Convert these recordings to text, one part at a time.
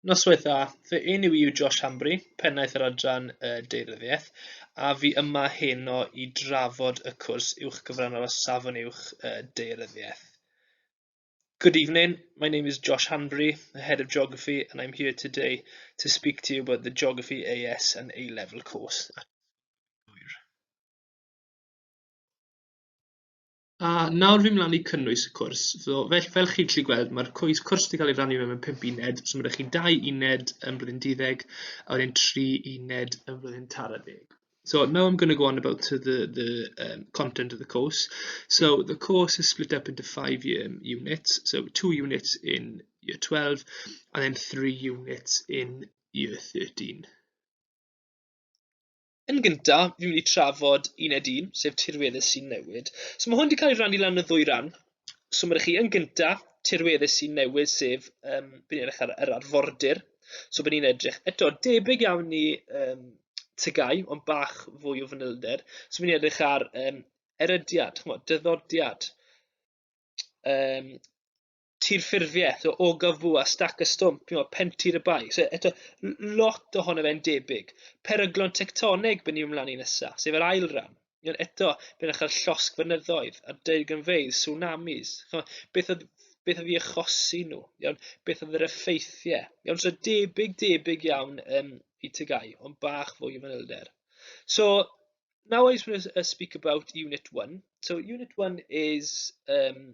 Noswaith dda, fy enw i yw Josh Hambry, Pennaeth yr Adran y Deiryddiaeth, a fi yma heno i drafod y cwrs uwch gyfrannol o Safon Uwch y Deiryddiaeth. Good evening, my name is Josh Hanbury, the Head of Geography, and I'm here today to speak to you about the Geography AS and A-Level course. A nawr fi'n mynd lan i cynnwys y cwrs. So, fel, fel chi'n gallu gweld, mae'r cwys, cwrs wedi cael ei rannu mewn pimp uned, so mae rhaid chi dau uned yn blwyddyn 12, a wedyn tri uned yn blwyddyn tara deg. So now I'm going to go on about to the, the um, content of the course. So the course is split up into five um, units. So two units in year 12 and then three units in year 13. Yn gynta, fi'n mynd i trafod uned un, sef tirweddau sy'n newid. So mae hwn wedi cael ei rannu lan y ddwy ran. So mae chi yn gynta, tirweddau sy'n newid, sef um, by'n edrych ar yr arfordir. So by'n ni'n edrych eto debyg iawn i um, tygau, ond bach fwy o fanylder. So by'n ni'n edrych ar um, erydiad, chmo, dyddodiad. Um, tir ffurfiaeth o Ogafw a Stac y Stwmp, you know, Pentir y Bae. So, eto, lot ohono fe'n debyg. Peryglon tectoneg byn ni ymlaen i nesaf, sef yr ail ran. You know, eto, bydd yn chael llosg fynyddoedd a deirgynfeydd, tsunamis. You beth oedd beth oedd i achosi nhw, iawn, beth oedd yr effeithiau. Iawn, so debyg, debyg iawn um, i tygau, ond bach fwy o fanylder. So, now I just want to uh, speak about Unit 1. So, Unit 1 is um,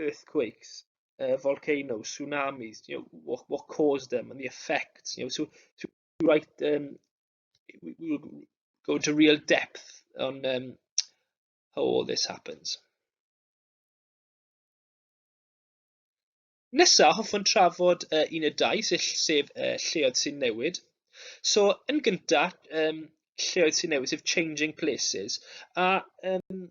earthquakes, uh, volcanoes, tsunamis, you know, what, what caused them and the effects, you know, so, so we write, um, we, we go into real depth on um, how all this happens. Nesa, hoffwn trafod uh, un y dau, sef, sef uh, lleoedd sy'n newid. So, yn gyntaf, um, lleoedd sy'n newid, sef changing places. A um,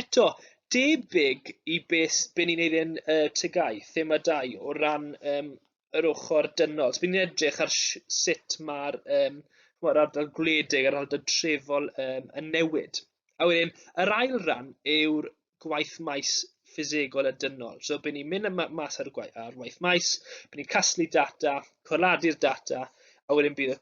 eto, debyg i beth be ni'n neud yn y TGAU, thema dau, o ran um, yr ochr dynol. So, bydd ni'n edrych ar sut mae'r um, mae'r ardal gwledig a'r ardal trefol um, yn newid. A wedyn, yr ail ran yw'r gwaith maes ffisegol a dynol. So, bydd ni'n mynd mas ar, gwaith, ar waith maes, bydd ni'n casglu data, corladu'r data, a wedyn bydd y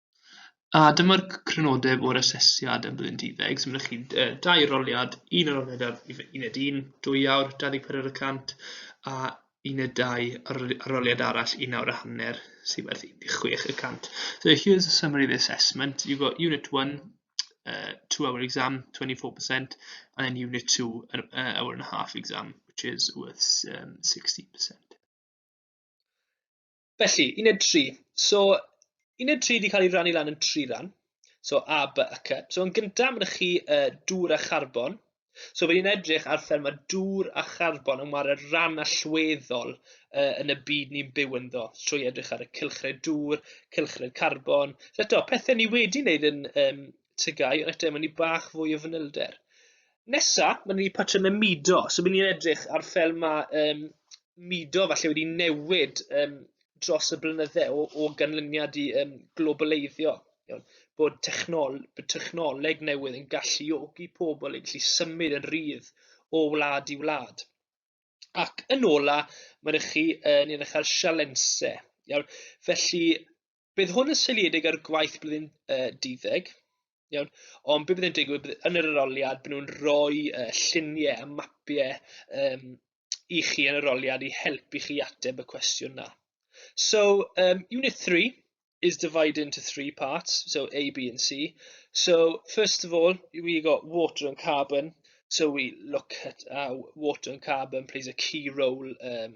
A dyma'r c- crynodeb o'r asesiad am blwyddyn duddeg, so ma' chi yy dau roliad, un yn roliad ar uf- uned un, dwy awr, dau ddeg pedwar y cant, a uned dau ar roli- ar roliad arall, un awr a hanner, sy'n werth un deg chwech y cant. So here's a summary of the assessment. You've got unit one, uh, two hour exam, 24%, and then unit two, an uh, hour and a half exam, which is worth um, 16%. Felly, uned 3. So, uned 3 wedi cael ei rannu lan yn tri ran. So, A, B a C. So, yn gyntaf, mae chi uh, dŵr a charbon. So, fe ni'n edrych ar fel mae dŵr a charbon yn wario ran allweddol uh, yn y byd ni'n byw ynddo. Trwy edrych ar y cylchred dŵr, cylchred carbon. So, eto, pethau ni wedi wneud yn um, tygau, ond eto, mae'n ni bach fwy o fanylder. Nesa, mae'n ni patrymau mudo, so mae'n ni'n edrych ar fel mae um, mudo falle wedi newid um, dros y blynydde o, o ganlyniad i um, globaleiddio. Iawn, bod, technol, bod technoleg newydd yn galluogi pobl i gallu symud yn rhydd o wlad i wlad. Ac yn ola, mae'n chi uh, ni'n eich ar sialensau. Iawn, felly Bydd hwn yn seiliedig ar gwaith blwyddyn uh, diddeg, iawn, ond beth bydd yn digwydd, bydd yn yr aroliad, bydd nhw'n rhoi uh, lluniau a mapiau um, i chi yn yr aroliad i helpu chi ateb y cwestiwn na. So, um, Unit 3 is divided into three parts, so A, B and C. So, first of all, we got water and carbon, so we look at how water and carbon plays a key role um,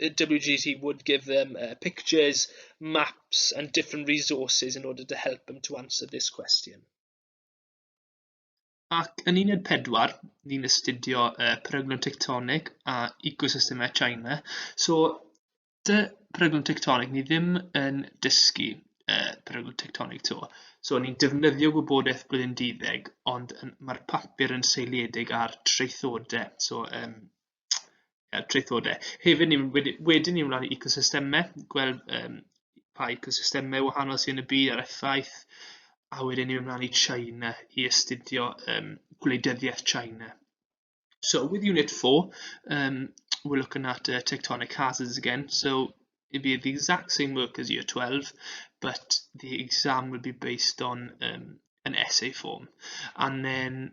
WGT would give them uh, pictures, maps and different resources in order to help them to answer this question. Ac yn uned pedwar, ni'n astudio uh, peryglon tectonic a ecosystemau China. So, dy peryglon tectonic, ni ddim yn dysgu uh, peryglon tectonic to. So, ni'n defnyddio gwybodaeth blwyddyn dyddeg, ond mae'r papur yn seiliedig ar traethodau. So, um, uh, traethodau. Hefyd, ni, wedi, wedyn ni wnawn ecosystemau, gweld um, pa ecosystemau wahanol sy'n y byd a'r effaith, a wedyn ni wnawn i China i astudio um, gwleidyddiaeth China. So with Unit 4, um, we're looking at uh, tectonic hazards again. So it'd be the exact same work as year 12, but the exam will be based on um, an essay form. And then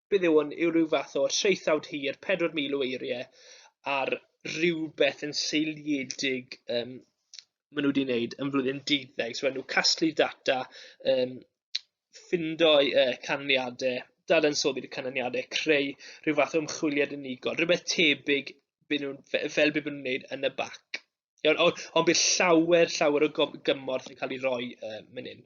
beth yw hwn, yw rhyw fath o traethawd hir, 4,000 o eiriau, ar rhywbeth yn seiliedig um, maen nhw wedi wneud yn flwyddyn 12. So, maen nhw casglu data, um, ffindo'i uh, canlyniadau, dadansoddi'r canlyniadau, creu rhyw fath o ymchwiliad unigol, rhywbeth tebyg byd nhw'n, fel byd nhw'n wneud yn y bac. Ond on, on bydd llawer, llawer o gymorth yn cael ei roi uh, mynd hyn.